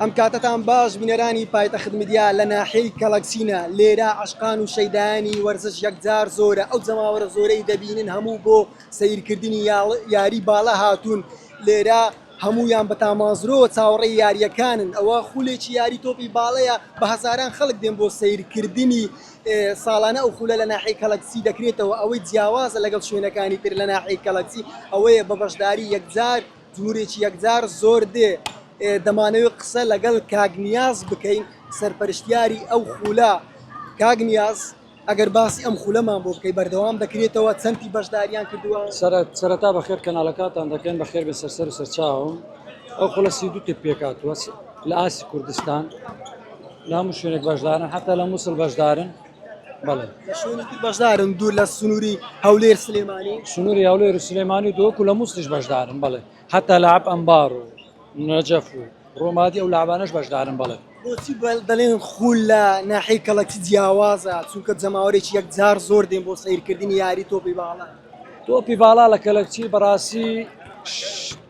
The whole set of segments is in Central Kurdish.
ئەم کاتەتان باش بینەرانی پایتەخت میدیا لە ناحیەی کەڵەک چینە لێرە عەشقان و شەیدایانی وەرزش یەکجار زۆرە ئەو جەماوەرە زۆرەی دەبینن هەموو بۆ سەیرکردنی یاری باڵە هاتوون لێرە هەموویان بە تامازرۆ چاوەڕێی یاریەکانن ئەوە خولێکی یاری تۆپی باڵەیە بە هەزاران خەڵک دێن بۆ سەیرکردنی ساڵانە ئەو خولە لە ناحی کەڵەکسی دەکرێتەوە ئەوەی جیاوازە لەگەڵ شوێنەکانی تر لە ناحی کەڵەکسی ئەوەیە بە بەشداری یەکجار جورێکی یەکجار زۆر دێ دەمانەوێ قسە لەگەڵ کاک نیاز بکەین سەرپەرشتیاری ئەو خولە کاک نیاز ئەگەر باسی ئەم خولەمان بۆ بکەی بەردەوام دەکرێتەوە چەندی بەشداریان کردووە سەرەتا بەخێر کەناڵەکاتان دەکەن بە خێر بە سەرسەر و سەرچاوم ئەو خولە سی دوو تر پێکاتوە لە ئاسی کوردستان لە هەموو شوێنێک بەشدارن حتا لە مووسڵ بەشدارن بەڵێ لە شوێنی تر بەشدارن دوور لە سنووری هەولێر سلێمانی سنووری هەولێر و سلێمانی و دۆک و لە موستیش بەشدارن بەڵێ هەتا لە عەب ئەمبار و نەجەف و ڕۆمادی ئەو لابانەش بەشدارن بەڵێ بۆچی بەل دەڵێن خول لە ناحی کەڵەکی جیاوازە چونکە جەماوەرێکی یەکجار زۆر دێن بۆ سەیرکردنی یاری تۆپی باڵە تۆپی باڵا لە کەلەکچی بەڕاستی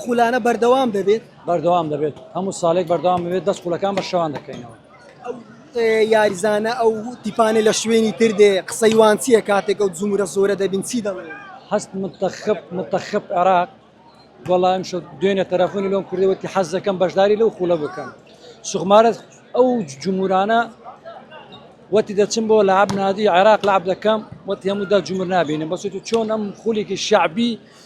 خولانە بەردەوام دەبێت بەردەوام دەبێت هەموو ساڵێک بەردەوام بێت دەست خولەکان بە شەوان دەکەینەوە یاریزانە ئەو تیپانە لە شوێنی تر دێ قسەی وانچیە کاتێک ئەو زمورە زۆرە دەبین چی دەڵێ هەست متەخب متەخب عێراق وەڵام شە دوێنێ تەرەفۆنی لۆم کردەوەتی حەز دەکەم بەشداری لەو خولە بکەم سوخمارە ئەو جمهورانە وەتی دەچم بۆ لە عبنادی عێراق لە عبدەکەم وەتی هەموو دا جمر نبینم بەسێت و چۆن ئەم خولێکی شعبی و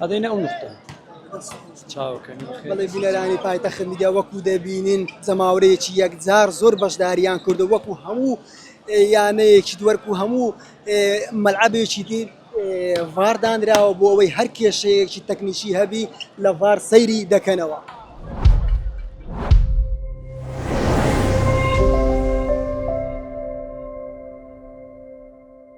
ئەدەینە ئەو نوختە بەڵێ بینەرانی پایتەخت میدیا وەکو دەبینین جەماورەیەکی یەکجار زۆر بەشداریان کردو وەکو هەموو یانەیەکی دووەرکو هەموو مەلعبێکی دی ڤاردانراوە بۆ ئەوەی هەر کێشەیەکی تەکنیکی هەبی لە ڤار سەیری دەکەنەوە.